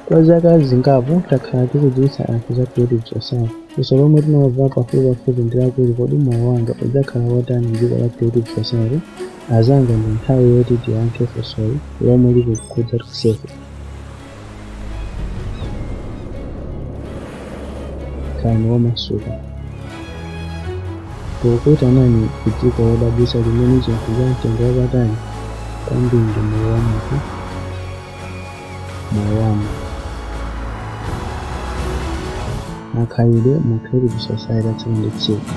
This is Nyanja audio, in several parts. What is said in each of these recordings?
Kwa zaka zingapo takhala tikudziwitsa anthu za Creative Society. Funso lomwe timamva pafupipafupi ndi lakuti kodi moyo wanga udzakhala wotani m'dziko la Creative Society? Anzanga ndi nthawi yoti tiyankhe funsoli lomwe likukhudza tonsefe. khalani womasuka tikukuitanani ku dziko lodabwitsa limene chinthu cha mtengo wapatali kwambiri ndi moyo wa munthu moyo wanu makhalidwe mu creative society atsiku ndi tsiku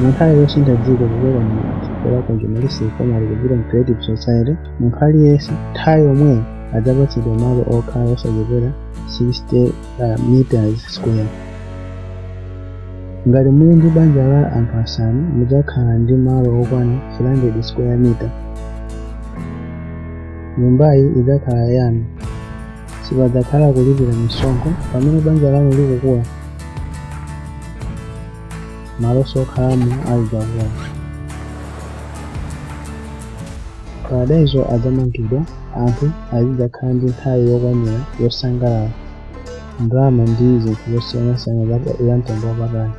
munthu ali yosintha dziko kuchoka mu dziko la consumeristic format kupita mu creative society munthu aliyense nthawi yomweyo adzapatsidwa malo okhala osachepera 60 meters square. Ngati muli ndi banja la anthu asanu mudzakhala ndi malo okwana 300 square meter. Nyumbayi idzakhala yanu. Sipadzakhala kulipira misonkho pamene banja lanu likukula. Malo okhalamo azidzakula. Paradaiso adzamangidwa, anthu azidzakhala ndi nthawi yokwanira yosangalala, ndalama ndi zinthu zosiyanasiyana zamtengo wapatali.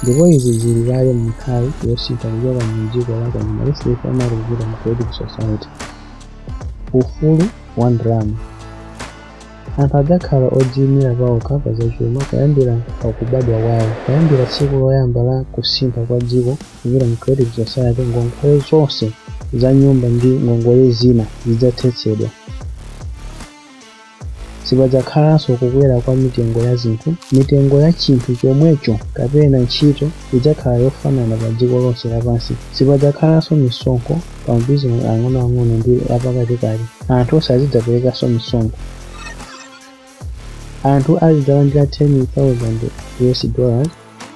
Ndipo izi zili kale m'nthawi yosintha kuchoka mu dziko la consumeristic format kupita mu creative society. Ufulu wa ndalama. Anthu adzakhala odziimira paokha pa zachuma kuyambira pa kubadwa kwawo. Kuyambira tsiku loyamba la kusintha kwa dziko Kupita mu Creative Society, ngongole zonse za nyumba ndi ngongole zina zidzathetsedwa. Sipadzakhalanso kukwera kwa mitengo ya zinthu. Mitengo ya chinthu chomwecho kapena ntchito idzakhala yofanana padziko lonse lapansi. Sipadzakhalanso misonkho pa mabizinesi ang'onoang'ono ndi apakatikati. Anthu sazidzaperekanso misonkho. anthu azidzalandira 10,000 us dollars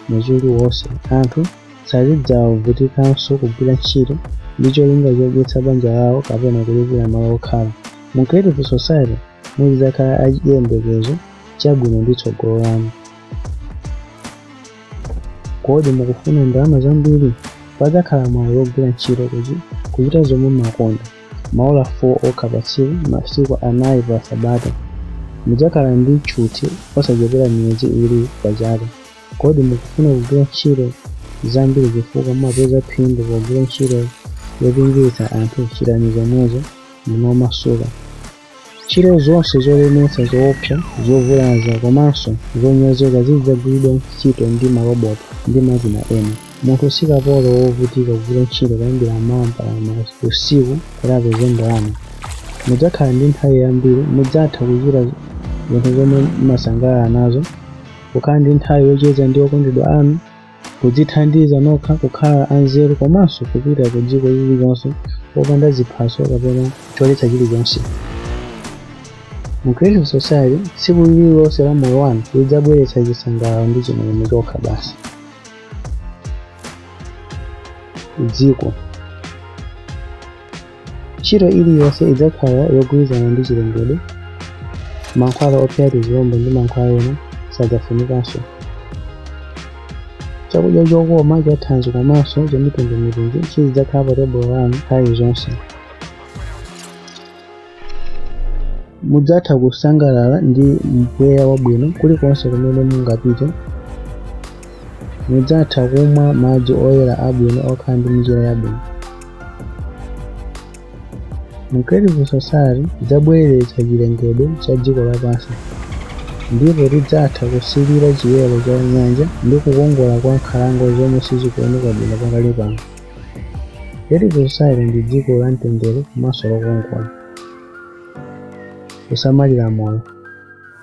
mwezi uliwonse anthu sazidzavutikanso kugwira ntchito ndi cholinga chodyetsa banja lawo kapena kulipira malo okhala mu creative society muzidzakhala achiyembekezo chabwino ndi tsogolo lanu kodi mukufuna ndalama zambiri padzakhala mwayi wogwira ntchito kuchita zomwe mumakonda maola 4 okha pa tsiku, masiku anayi pa Sabata. Mudzakhala ndi tchuthi osachepera miyezi iwiri pa chaka. Kodi mukufuna kugwira ntchito zambiri chifukwa mumapeza phindu pogwira ntchito yopindulitsa anthu? Chitani zomwezo. Ndinu omasuka. Ntchito zonse zolemetsa, zoopsa, zovulaza komanso zonyozeka zizidzagwiridwa ntchito ndi maloboti ndi makina ena. Munthu si kapolo wovutika kugwira ntchito kuyambira m'mawa mpaka usiku kuti apeze ndalama. Mudzakhala ndi nthawi yambiri, mudzatha kuchita zinthu zomwe mumasangalala nazo, kukhala ndi nthawi yocheza ndi okondedwa anu, kudzithandiza nokha kukhala anzeru komanso kupita ku dziko lililonse popanda ziphaso kapena choletsa chilichonse mu creative society tsiku lililonse la moyo wanu lidzabweretsa chisangalalo ndi chimwemwe chokha basi dziko Ntchito iliyonse idzakhala yogwirizana ndi chilengedwe. Mankhwala ophera tizilombo ndi mankhwala ena sadzafunikanso. Chakudya chokoma, chathanzi komanso chamitundumitundu chizidzakhala pa tebulo lanu nthawi zonse. Mudzatha kusangalala ndi mpweya wabwino kulikonse kumene mungapite. Mudzatha kumwa madzi oyera abwino okhala ndi mchere yabwino. Mu Creative Society idzabweretsa chilengedwe cha dziko lapansi, ndipo tidzatha kusilira chiyero cha nyanja ndi kukongola kwa nkhalango zomwe sizikuoneka bwino pakali pano. Creative Society ndi dziko la mtendere komanso lokongola. Kusamalira moyo.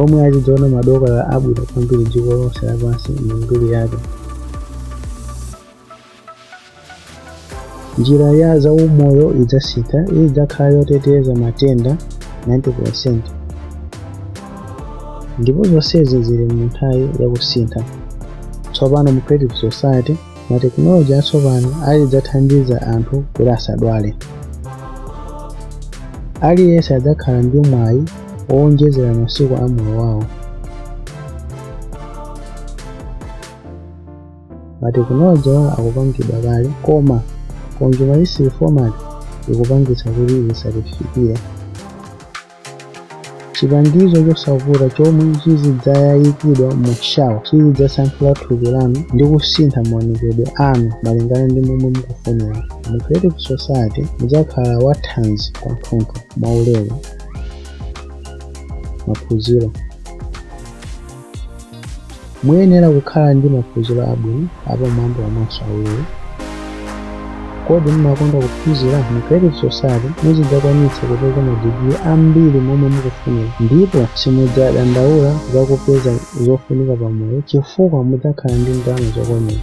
omwe azidzaona madokotala abwino kwambiri dziko lonse lapansi mu mbiri yathu njira ya zaumoyo idzasintha idzakhala yoteteza matenda 90% ndipo zonsezi zili mu nthawi yakusintha tsopano mu creative society matekinoloji atsopano azidzathandiza anthu kuti asadwale aliyense adzakhala ndi mwayi wowonjezera masiku a moyo wawo matekinoloji awa akupangidwa kale koma consumeristic format ikupangitsa kuti zisatifikire chipangizo chosavuta chomwe chizidzayikidwa mu shawa chizidzasanthula thupi lanu ndi kusintha maonekedwe anu malingana ndi momwe mukufunira mu creative society mudzakhala wathanzi kwathunthu mwaulere maphunziro Muyenera kukhala ndi maphunziro abwino apamwamba komanso aulere. Kodi mumakonda kuphunzira? Mu Creative Society muzidzakwanitsa kupeza madigiri ambiri momwe mukufunira ndipo simudzadandaula za kupeza zofunika pamoyo chifukwa mudzakhala ndi ndalama zokwanira.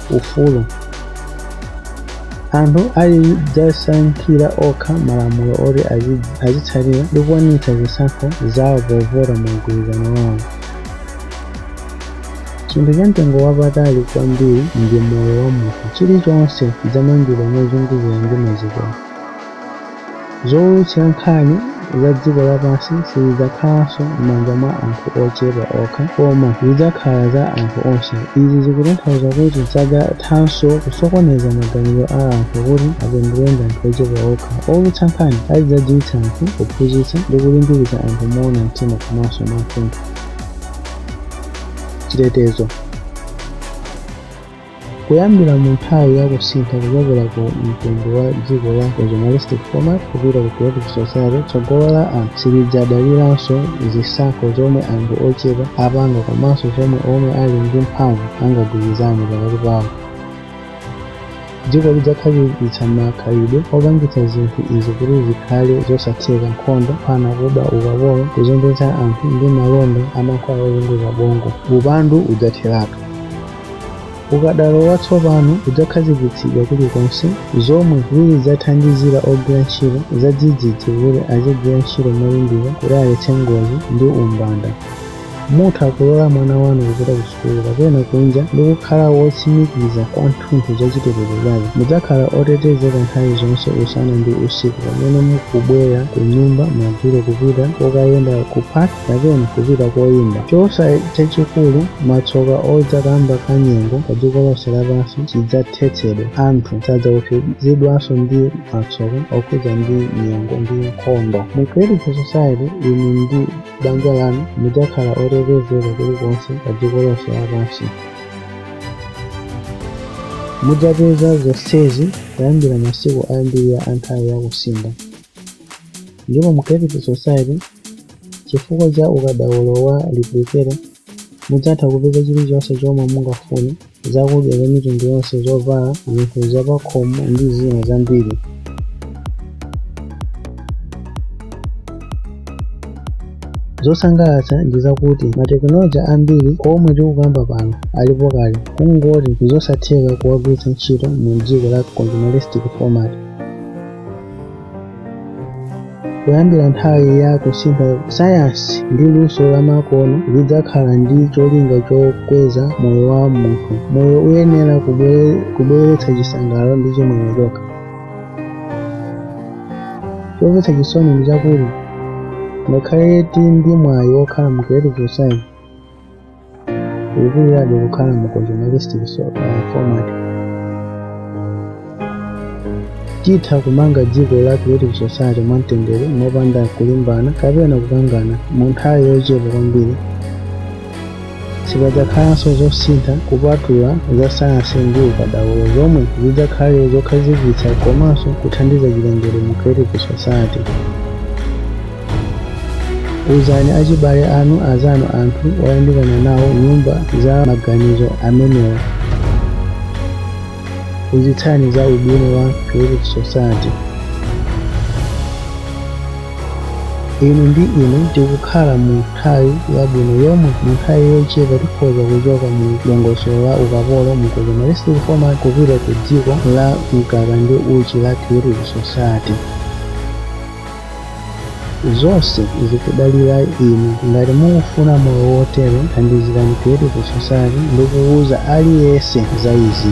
ufulu. Anthu azidzasankhira okha malamulo oti azitsatira ndi kukwaniritsa zisankho zawo povota mu mgwirizano wawo. Chinthu chamtengo wapatali kwambiri ndi moyo wa munthu. Chilichonse chidzamangidwa mozungulira ndi mazikowo. Zoulutsira nkhani za dziko lapansi sizidzakhalanso m'manja mwa anthu ochepa okha, koma zidzakhala za anthu onse. Izi zikutanthauza kuti sadzathanso kusokoneza maganizo a anthu kuti apindule ndi anthu ochepa okha. Oulutsa nkhani azidzadziwitsa anthu, kuphunzitsa, ndi kulimbikitsa anthu moona mtima komanso mwathunthu. Chitetezo. Kuyambira mu nthawi ya kusintha kuchokera ku mtundu wa dziko la consumeristic format kupita ku creative society, tsogolo la anthu silidzadaliranso zisankho zomwe anthu ochepa apanga komanso zomwe omwe ali ndi mphamvu angagwirizane pakati pawo. Dziko lidzakhazikitsa makhalidwe opangitsa zinthu izi kuti zikhale zosatheka, nkhondo, kuphana, kuba, ukapolo, kuzembetsa anthu, ndi malonda a mankhwala ozunguza bongo. Upandu udzatheratu. ukadaulo watsopano udzakhazikitsidwa kulikonse zomwe zizidzathandizira ogwira ntchito zadzidzidzi kuti azigwira ntchito molimbika kuti aletse ngozi ndi umbanda mutha kulola mwana wanu kupita ku sukulu kapena kunja ndi kukhala wotsimikiza kwathunthu za chitetezo chake mudzakhala otetezeka nthawi zonse usana ndi usiku pamene mukubwera ku nyumba madzulo kupita kokayenda ku park kapena kupita koyimba chiopsezo chachikulu, matsoka odza kamba ka nyengo pa dziko lonse lapansi chidzathetsedwa anthu sadzaopsezedwanso ndi matsoka okhudzana ndi nyengo ndi nkhondo mu creative society inu ndi banja lanu mudzakhala otetezeka kulikonse pa dziko lonse lapansi mudzapeza zonsezi kuyambira masiku oyambirira a nthawi yakusintha Ndipo mu Creative Society, chifukwa cha ukadaulo wa replicator, mudzatha kupeza chilichonse chomwe mungafune, zakudya za mitundu yonse, zovala, zinthu zapakhomo ndi zina zambiri. Zosangalatsa ndi zakuti matekinoloji ambiri omwe tikukamba pano alipo kale, kungoti n'zosatheka kuwagwiritsa ntchito mu dziko la consumeristic format. kuyambira nthawi ya kusintha sayansi ndi luso lamakono zidzakhala ndi cholinga chokweza moyo wa munthu moyo uyenera kubweretsa chisangalalo ndi chimwemwe chokha chomvetsa chisoni ndi chakuti ngakhale tili ndi mwayi wokhala mu creative society Ukulirabe kukhala mu consumeristic format. Titha kumanga dziko la creative society mwamtendere mopanda kulimbana kapena kukangana mu nthawi yochepa kwambiri. Sipadzakhalanso zosintha kupatula za sayansi ndi ukadaulo zomwe zidzakhale zokhazikitsa komanso kuthandiza chilengedwe mu creative society. Uzani achibale anu, azanu, anthu oyandikana nawo nyumba za maganizo amenewa. Phunzitsani za ubwino wa Creative Society. Inu ndi ine tikukhala mu nthawi yabwino yomwe mu nthawi yochepa tikhoza kuchoka mu dongosolo la ukapolo mu consumeristic format kupita ku dziko la mkaka ndi uchi la Creative Society. Zonse zikudalira inu. Ngati mukufuna moyo wotere, thandizirani Creative Society ndi kuuza aliyense za izi.